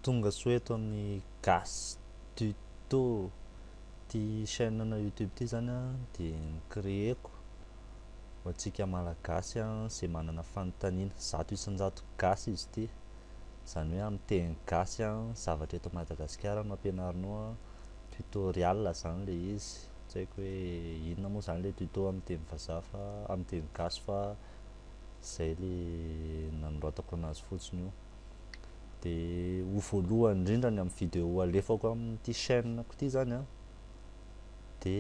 Tonga soa eto amin'ny Gas Tuto. Ity chaîne na YouTube ity zany a dia ni-créer-ko ho antsika Malagasy a izay manana fanontaniana. Zato isan-jato Gasy izy ity. Izany hoe amin'ny teny Gasy a, zavatra eto Madagasikara no ampianarinao a. Tutorial izany ilay izy. Tsy haiko hoe inona moa izany ilay tuto amin'ny teny vazaha fa amin'ny teny Gasy fa zay le nanoratako anazy fotsiny io de ho voalohany indrindra ny amin'ny vidéo alefako amin'ity chaîne ko ty zany an de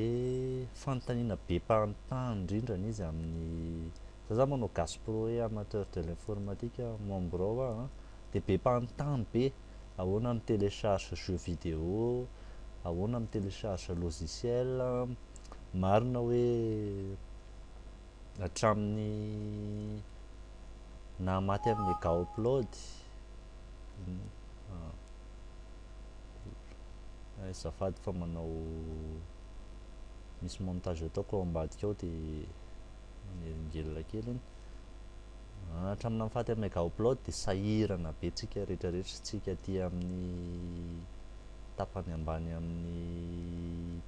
fanontaniana be mpanontany indrindra ny izy amin'ny za za manao gaspro hoe amateur de l'informatique membre ao aho an de be mpanontany be ahoana mi télécharge jeux vidéo ahoana mi télécharge logiciel marina hoe Hatramin'ny naha maty an'i Megaupload ah, azafady fa manao misy montage ataoko ao ambadika ao dia manelingelina kely iny ah, hatramin'ny naha maty an'i Megaupload dia sahirana be tsika rehetrarehetra tsika aty amin'ny tapany ambany amin'ny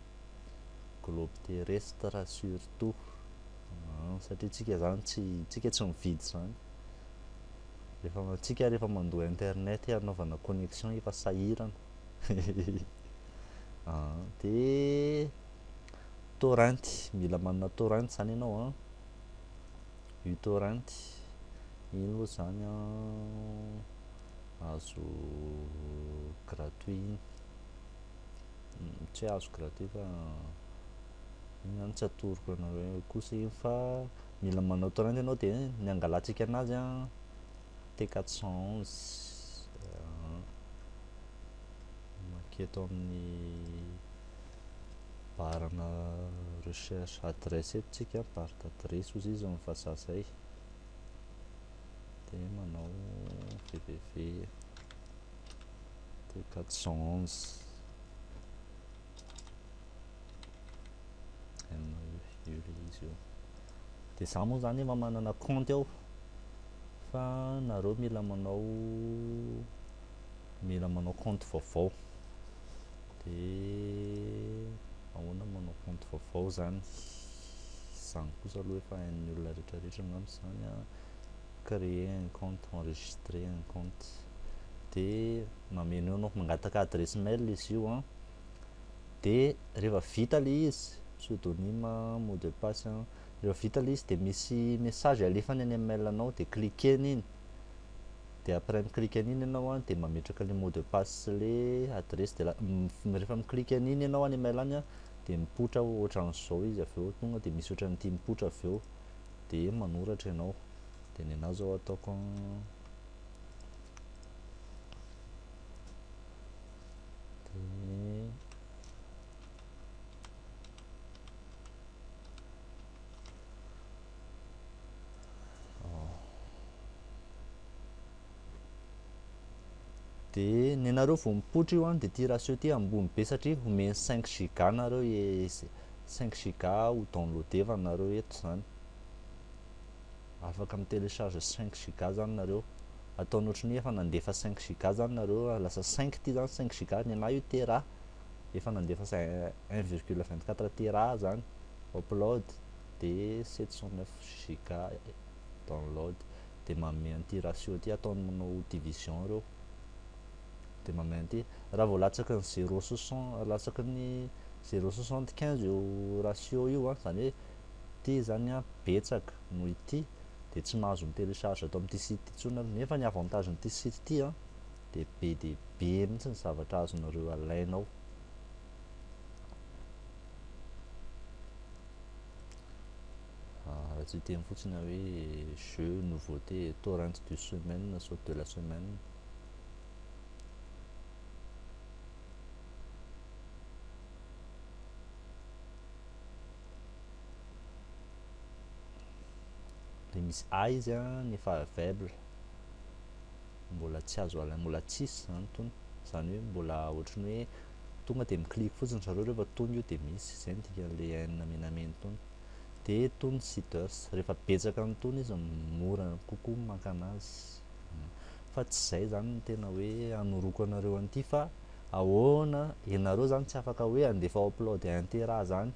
globe terrestre surtout satria tsika zany tsy tsika tsy mividy zany rehefa tsika rehefa mandoa internet hanaovana connexion efa sahirana ah, de torrent mila manana torrent zany ianao an u torrent iny moa zany an azo gratuit iny tsy azo gratter fa iny zany tsy atoroko anareo eo kosa iny fa mila manao torrent ianao dia ny hangalantsika anazy an T 411 maketo amin'ny barana recherche adresse eto tsika bar d'adresse ozy izy amin'ny vazaha zay dia manao www dia quatre cent onze dia za moa zany efa manana compte ao fa nareo mila manao mila manao compte vaovao dia ahoana manao compte vaovao zany zany kosa aloha efa hain'ny olona rehetrarehetra angamba zany a créer un compte enregistrer un compte de mameno eo no mangataka adresse mail izy io an de rehefa vita le izy pseudonyme mot de passe an rehefa vita le izy de misy message alefany any amin'ny mail anao de cliquer an'iny de après mi cliquer an'iny ianao an de mametraka le mot de passe sy le adresse de rehefa mi cliquer an'iny ianao any mail any an de mipoitra ohatran'izao izy avy eo tonga de misy ohatran'ity mipoitra avy eo de manoratra ianao de ny anao zao ataoko De nenareo vao mipoitra io an de ty ratio ty ambony be satria omeny 5 giga nareo e 5 giga ho downloadevana nareo eto zany afaka mi télécharge 5 giga zany nareo ataony ohatry ny efa nandefa 5 giga zany nareo lasa 5 ty zany 5 giga nenah io tera efa nandefa 1,24 tera zany upload de 709 giga download de manome an'ity ratio ty ataony manao division reo de manome an'ity raha vao latsaky ny zero soixante latsaky ny zero soixante quinze io ratio io an zany hoe ty zany an betsaka noho ity de tsy mahazo mi télécharge ato amin'ity site ty tsony nareo nefa ny avantage n'ity site ty an de be de be mihitsy ny zavatra azonareo alaina ao raha tsy hiteny fotsiny aho hoe jeu nouveauté torrent du semaine na saute de la semaine dia misy a izy a ny fara faible mbola tsy azo alaina mbola tsisy izany tony izany hoe mbola ohatran'ny hoe tonga dia mi-click fotsiny zareo rehefa tony io dia misy, izay no dikan'ilay haine menamena tony. Dia tony seeders, rehefa betsaka ny tony izy mora kokoa ny makana azy. Fa tsy izay izany no tena hoe hanoroko anareo an'ity fa ahoana, ianareo izany tsy afaka hoe handefa upload intera izany,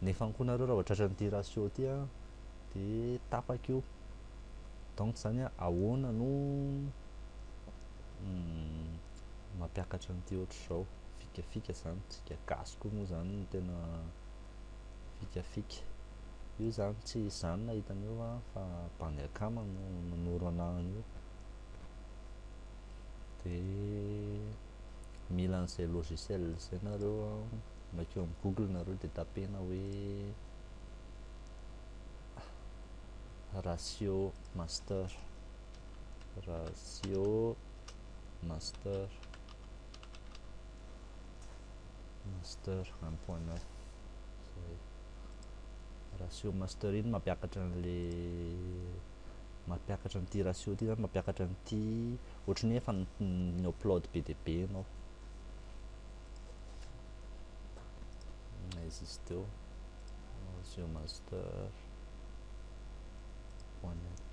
nefa koa nareo raha vao tratra an'ity ratio ity an, dia tapaka io. Donc izany hoe ahoana no mampiakatra an'ity ohatr'izao fikafika zany tsika gasy koa moa zany no tena fikafika io zany tsy izany na hitan'io va fa bandy akama no nanoro an'io de mila an'izay logiciel zay nareo makeo am google nareo de tapena hoe ratio master ratio master master un point neuf zay ratio master iny mampiakatra an'le mampiakatra an'ity ratio ity zany mampiakatra an'ity ohatry ny efa ny upload be dia be ianao izy izy teo ratio master point net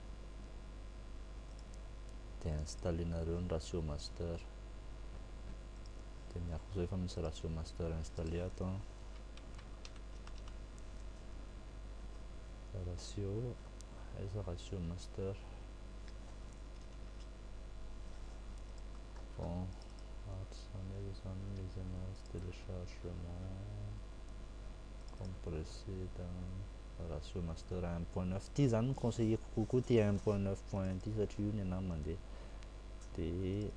dia installenareo ny ratio master dia miaraka izao efa misy ratio master installé ato an ratio aiza ratio master bon ato izany aiza izany misy anazy téléchargement compressé raha sur master un point neuf ity izany no conseilleko kokoa ity un point neuf point un ity satria io ny anah mandeha dia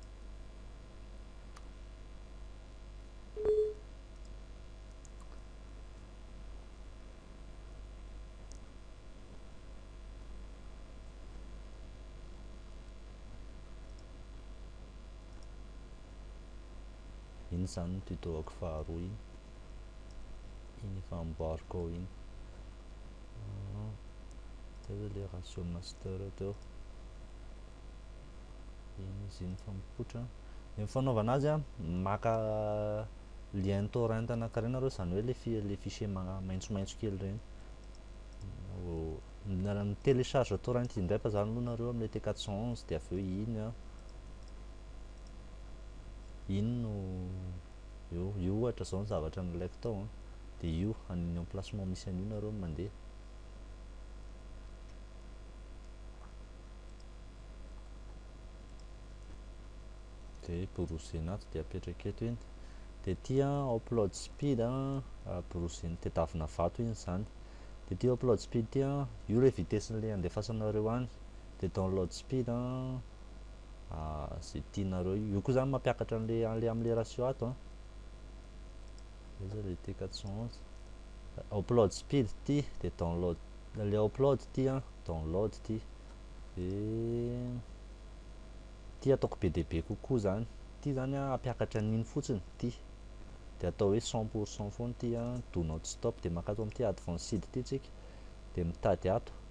iny izany ny tuto-ako faharoa iny iny efa amboariko ao iny ah, teo le ratio master teo iny izy iny fa mipoitra ny fanaovana azy a maka lien torrent anankiray nareo izany hoe le le fichier maitsomaitso kely ireny ny télécharge torrent indray fa zany aloha nareo amle t 411 dia avy eo iny a iny no eo, io ohatra zao ny zavatra nilaiko tao an, dia io any ny emplacement misy an'io nareo no mandeha. Dia browsena ato dia apetraka eto iny. Dia ity an upload speed an, browsena, tedavina vato iny izany. Dia ity upload speed ity an, io ilay vitesse-n'ilay andefasanareo any. Dia download speed an. ze tianareo io koa zany mampiakatra an'le an'le am'le ratio ato an désolé t 411 upload speed ty de download le upload ty an download ty de ty ataoko be dia be kokoa zany ty zany an ampiakatra an'iny fotsiny ty de atao hoe 100 pour 100 foana ty an do not stop de maka ato amin'ity advanced ty tsika de mitady ato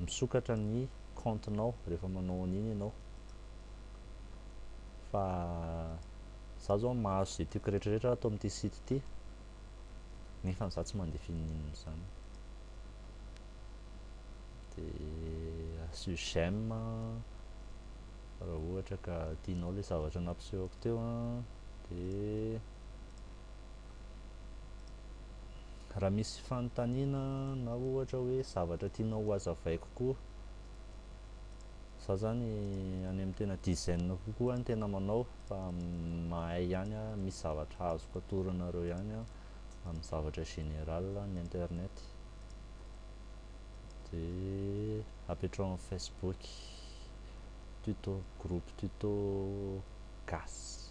misokatra ny compte nao rehefa manao an'iny ianao fa za zao mahazo izay tiako rehetrarehetra ato amin'ity site ity nefa za tsy mandeha fininina izany dia asio j'aime raha ohatra ka tianao ilay zavatra nampisehoko teo dia Raha misy fanontaniana na ohatra hoe zavatra tianao ho azavaiko koa, za zany any amin'ny tena dizaine kokoa no tena manao fa mahay ihany aho, misy zavatra azoko atoro anareo ihany aho amin'ny zavatra général ny internet, dia apetraho amin'ny facebook, tuto, groupe tuto gasy.